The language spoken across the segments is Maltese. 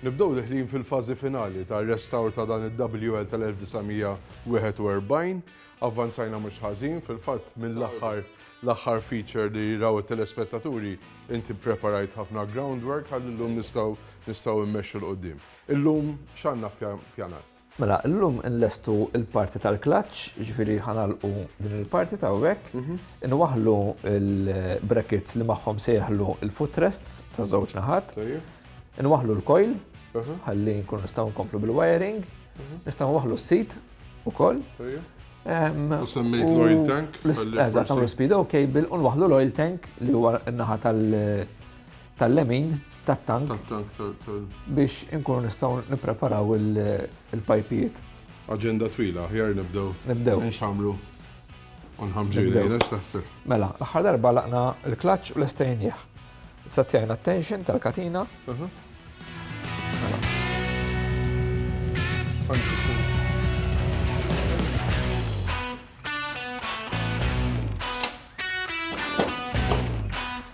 Nibdew deħlin fil-fażi finali tar-restawr ta' dan id-WL tal-1941. Avvanzajna mhux ħażin, fil-fatt mill-aħħar l-aħħar feature li raw it-telespettaturi inti ppreparajt ħafna groundwork ħalli llum nistgħu nistgħu mmexxu 'l quddiem. Illum x'għandna ppjanat? Mela illum inlestu l-parti tal-klaċċ, jiġifieri ħa nagħlqu din il-parti ta' hawnhekk, inwaħħlu l-brackets li magħhom se jeħlu l-footrests ta' żewġ naħat, inwaħħlu l-coil ħalli nkunu nistgħu nkomplu bil-wiring, nistgħu nwaħħlu s-seat ukoll. U semmejt l-oil tank. Eżatt, nagħmlu speedo cable u nwaħħlu l-oil tank li huwa n-naħa tal- tal-lemin tat-tank biex inkunu nistgħu nippreparaw il-pajpijiet. Aġenda twila, ħjar nibdew. Nibdew. Nxamru. Unħamġu jgħina x'taħseb. Mela, l-aħħar darba laqna l-klaċ u l-estajnjeħ. Satjajna t-tension tal-katina.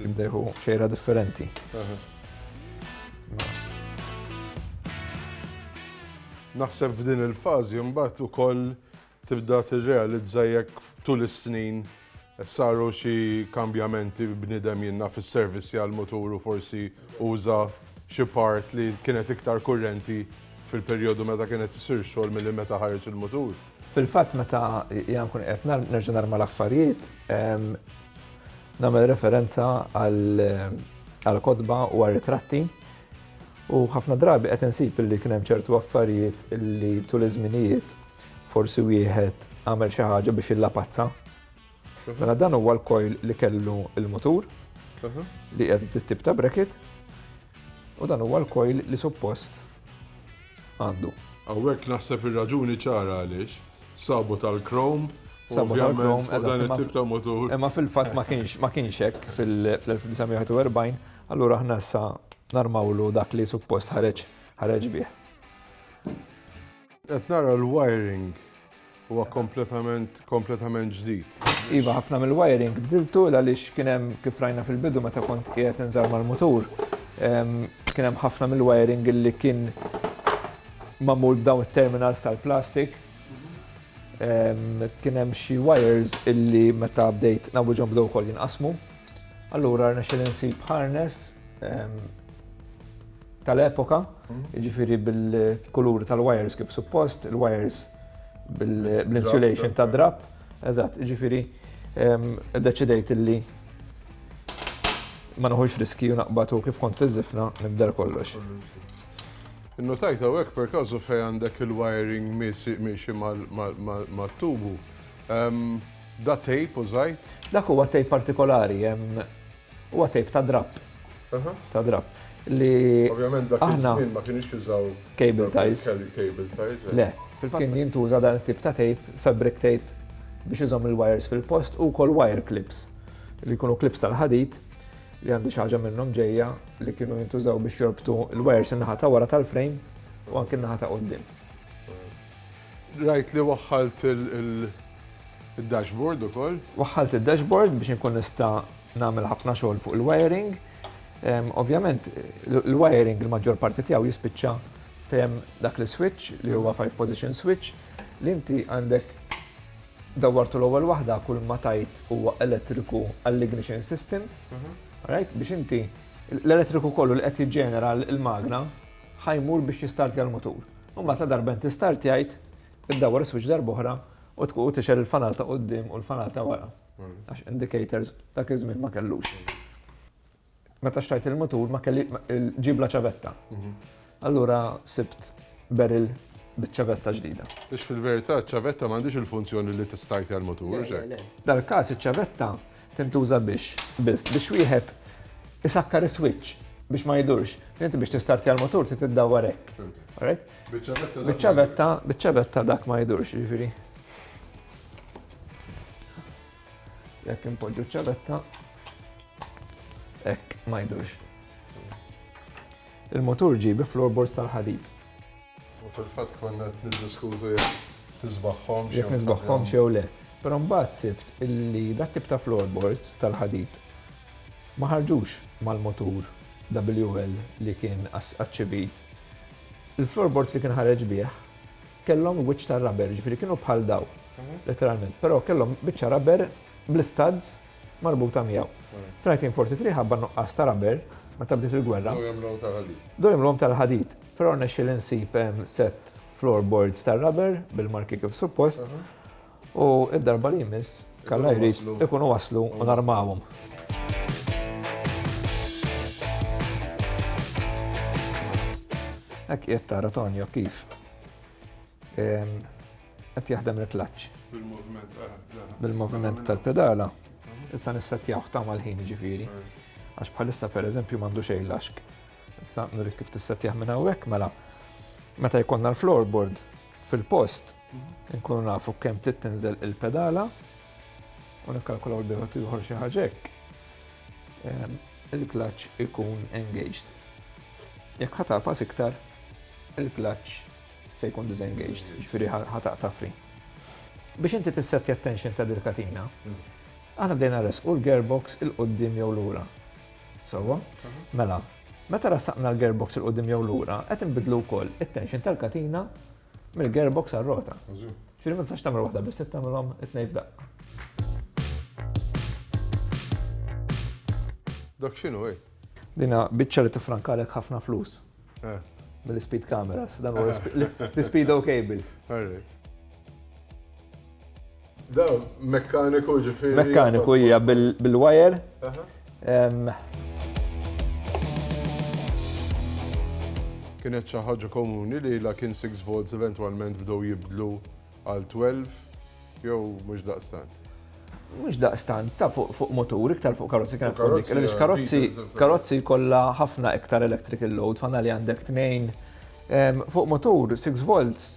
Jibdeħu xejra differenti. Naħseb f'din il-fażi mbagħad ukoll tibda tirrealizza jekk tul is-snin saru xi kambjamenti b'nidem jinna fis-servizzi għal muturu forsi uża xi part li kienet iktar kurrenti fil-perjodu meta kienet isir xogħol milli meta ħareġ il-mutur. Fil-fatt meta jgħan kun qed nerġa' narma l-affarijiet, Nagħmel referenza għall-kotba u għar-ritratti u ħafna drabi qed insib li kien hemm ċertu affarijiet li tul iż-żminijiet forsi wieħed għamel xi ħaġa biex illapazza. Mhm. Mela dan huwa l-kojl li kellu il-mutur mhm. li qed tip ta' bracket u dan huwa l-kojl li suppost għandu. Hawnhekk naħseb ir-raġuni ċara għaliex sabu tal-krom Sabu tal-krom, dan it-tip ta' motur. Imma fil-fatt ma kienx ma kienx hekk fil-1941, allura aħna issa narmawlu dak li suppost ħareġ ħareġ bih. Qed nara l-wiring Huwa kompletament, kompletament ġdid. Iva, ħafna mill-wiring bdiltu għaliex kien hemm kif rajna fil-bidu meta kont qiegħed inżar mal-mutur. Kien hemm ħafna mill-wiring li kien magħmul b'dawn it-terminals tal-plastik. Kien hemm xi wires illi meta bdejt nawwiġhom bdew ukoll jinqasmu. Allura rnexxel insib harness tal-epoka, jiġifieri bil-kulur tal-wires kif suppost, il-wires bil-insulation ta' drab, eżatt, jiġifieri deċidejt illi ma noħux riski u naqbatu kif kont fiżifna nibdel kollox. Innotajt hawnhekk per każu fejn għandek il-wiring miexi mat-tubu. Da tape użajt? Dak huwa tape partikolari, Huwa tape ta' drapp. Ta' drapp. Li. Ovvjament dak iż-żmien ma kienux jużaw. Cable ties. Cable ties. Le. Kien jintuża dan it-tip ta' tape, fabric tape, biex iżomm il-wires fil-post u wkoll wire clips. Li jkunu clips tal-ħadid li għandi xi ħaġa minnhom ġejja li kienu jintużaw biex jorbtu l-wires in-naħa ta' wara tal-frame u anke n-naħa ta' quddiem. Rajt li waħħalt il-dashboard ukoll. Waħħalt id-dashboard biex inkun nista' nagħmel ħafna xogħol fuq il-wiring. Ovvjament, il-wiring il-maġġor parti tiegħu jispiċċa fejn dak l-switch li huwa five position switch li inti għandek dawwartu l-ewwel waħda kull ma tajt huwa elettriku għall-ignition system. Mhm. Right? Biex inti l-elettriku kollu li qed jiġġenera l-magna ħa jmur biex jistartja l-mutur. U mbagħad la darba inti startjajt, iddawwar is-switch darba oħra u tkun tixel il-fanal ta' quddiem u l-fanal ta' wara. Hmm. Għax indicators dak iż-żmien ma kellux. Meta xtajt il-mutur ma kelli ġibla ċavetta. Hmm. Allura sibt beril bit-ċavetta ġdida. Biex fil-verità ċavetta m'għandix il-funzjoni li tistajt għal-mutur, Dal-każ iċ-ċavetta Tintuża biex, biss, biex wieħed isakkar is-switch biex ma jdurx. Inti biex tistartja l-motur trid iddawwar hekk. Alright? Biċ-ċavetta, biċ-ċavetta dak ma jdurx, jiġifieri. Jekk impoġġu ċ-ċavetta, hekk ma jdurx. Il-motur ġie bi floorboards tal-ħadid. U fil-fatt konna qed niddiskutu jekk tisbaħħomx. Jekk nisbaħħomx jew le. Però mbagħad sibt illi dat tip ta' floorboards tal-ħadid ma ħarġux mal-motur WL li kien għaċ-ċibi. Il-floorboards li kien ħareġ bih kellhom wiċċ ta' rubber, ġifieri kienu bħal daw, mhm. letteralment, però kellhom biċċa rubber bl-istads marbuta miegħu. Mhm. Fl-1943 ħabba nuqqas ta' rubber meta bdiet il-gwerra. Dojmlhom tal-ħadid. Dojmlhom tal-ħadid. Però rnexxieli nsib sett floorboards tar-rubber bil-marki kif suppost u d-darba li jmiss kalla jrid ikunu waslu u narmawhom. Hekk qiegħed tara Tonio kif qed jaħdem il-klaċċ. Bil-moviment tal-pedala. Issa nissettjawh ta' mal-ħin jiġifieri. Għax bħalissa pereżempju m'għandu xejn l-għaxk. Issa nurik kif tissettjah minn hawnhekk mela. Meta jkollna l-floorboard fil-post, nkunu nafu kemm trid tinżel il-pedala u nikkalkulaw l-biħot ieħor xi ħaġek. Ehm, il-klaċ ikun engaged. Jekk ħatafas iktar, il-klaċ se jkun disengaged, ġifieri ħataq tafri. Biex inti tissettja attention ta' dil-katina, mm. għana bdejna resqu l-gearbox il-qoddim jew l-ura. Sewwa? Mela, meta ressaqna l-gearbox il quddiem jew lura, qed inbidlu wkoll it-tension tal-katina mill-gearbox għar-rota. Ġifieri ma tistax tagħmel waħda biss tagħmilhom it-tnejn f'daqqa. Dak x'inhu hi? Dinha biċċa li tiffrankalek ħafna flus. Eh. Mill-speed cameras, dan huwa l-speed ok bil. Da, mekkaniku ġifiri. Mekkaniku hija bil-wire. Kienet xi ħaġa komuni li la kien 6 volts eventwalment bdew jibdlu Għal 12 jew mhux daqstant? Mhux daqstant, ta' fuq motur, iktar fuq karozzi kienet tkun dik. Għaliex karozzi karozzi kollha ħafna iktar electrical load, fanna li għandek tnejn. Fuq motur 6 volts,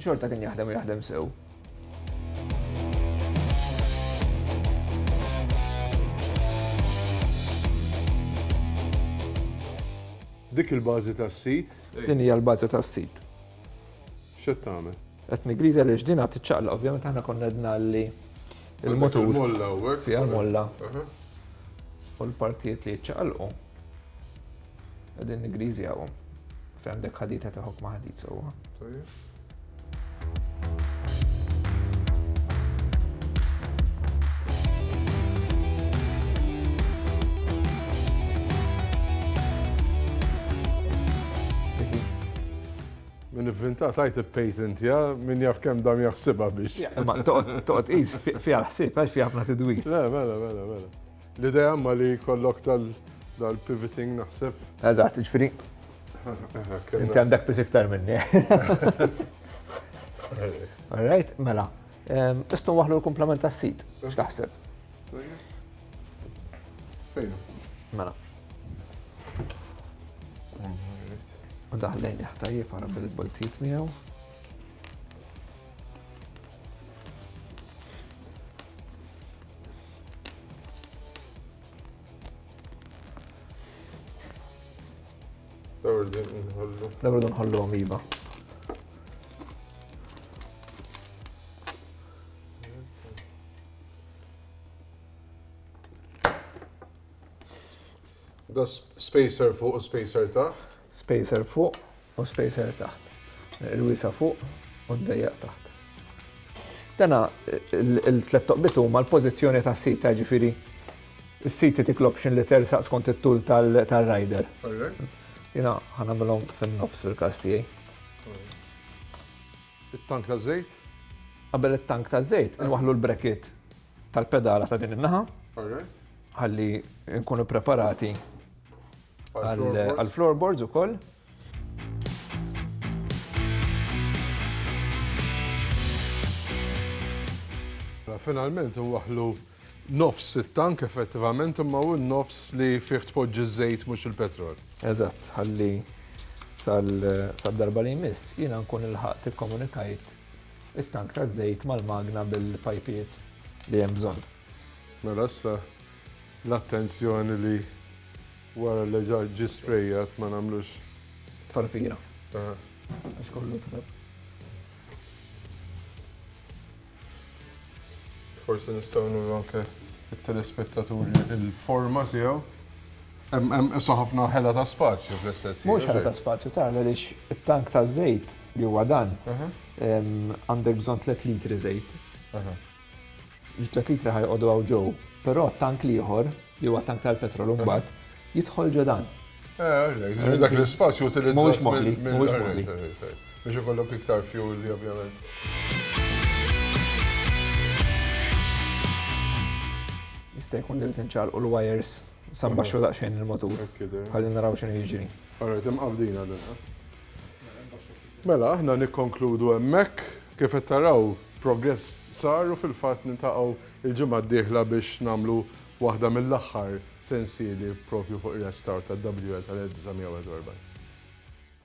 xorta kien jaħdem u jaħdem sew. Dik il-bażi tas-sit? Din hija l-bażi tas-sit. X'qed tagħmel? Qed nigriża li x'din għad tiċċaqla, ovvjament aħna konna għedna li il-motur. Il-molla u hekk. Fiha molla. U l-partijiet li jiċċaqalqu. Qegħdin nigriżjawhom. Fejn għandek ħadita ta' ħokma ħadit sewwa. Min ivvinta tajt il-patent, ja, min jaf kem dam jaħsibha biex. Ma toqgħod qis fiha l-ħsieb għax fiha ħafna tidwil. Le, mela, mela, mela. L-idea ma li kollok tal-pivoting naħseb. Eżatt, ġifieri. Inti għandek biss iktar minni. All right, mela. Ehm, Istu waħlu l-komplement tas-sit, x'taħseb? Fejn? Mela. U daħlejn jaħtajjeb għara bil-boltit miegħu. Dawr din nħollu. Dawr din nħollu għamiba. Da spacer fuq u spacer taħt. Spacer fuq u spacer taħt. Il-wisa fuq u d-dejjaq taħt. Dana il-tlet toqbit huma l-pożizzjoni ta' sita ġifiri s-siti tik l-option li tersaq skont it-tul tal-rider. Jina ħanamilhom fin-nofs fil-każ tiegħi. It-tank ta' żejt? Qabel it-tank ta' żejt, nwaħlu l-brekit tal-pedala ta' din in-naħa. Ħalli nkunu preparati għal-floorboards ukoll. Finalment nwaħħlu nofs it-tank effettivament imma hu n-nofs li fih tpoġġi ż-żejt mhux il-petrol. Eżatt, ħalli sal-darba li jmiss jiena nkun ilħaqt ikkomunikajt it-tank taż-żejt mal-magna bil-pajpiet li hemm bżonn. Mela issa l-attenzjoni li wara li ġa ġi sprejjat ma nagħmlux. Tfarfira. Għax kollu trab. Forsi nistgħu nuru anke it-telespettaturi il-forma tiegħu. Hemm issa ħafna ħela ta' spazju fl-istess. Mhux ħela ta' spazju tagħna lix it-tank ta' żejt li huwa dan għandek bżonn 3 litri żejt. Ġitlet litri ħajqodu għaw ġo, pero tank liħor, li huwa tank tal-petrol mbagħad, jidħol ġo dan. Eh, dak l-spazju utilizzat. Mhux moħli, mhux moħli. Biex ikollok iktar fuel, ovvjament. Jista' jkun li tinċalqu l-wires sabba xu daqsxejn il-motur. Ħalli naraw x'inhu jiġri. Alright, imqabdina l Mela, aħna nikkonkludu hemmhekk. Kif qed taraw, progress sar u fil-fatt niltaqgħu l-ġimgħa d-dieħla biex nagħmlu waħda mill-aħħar sensieli propju fuq ir-restawr tad-WL tal-1941.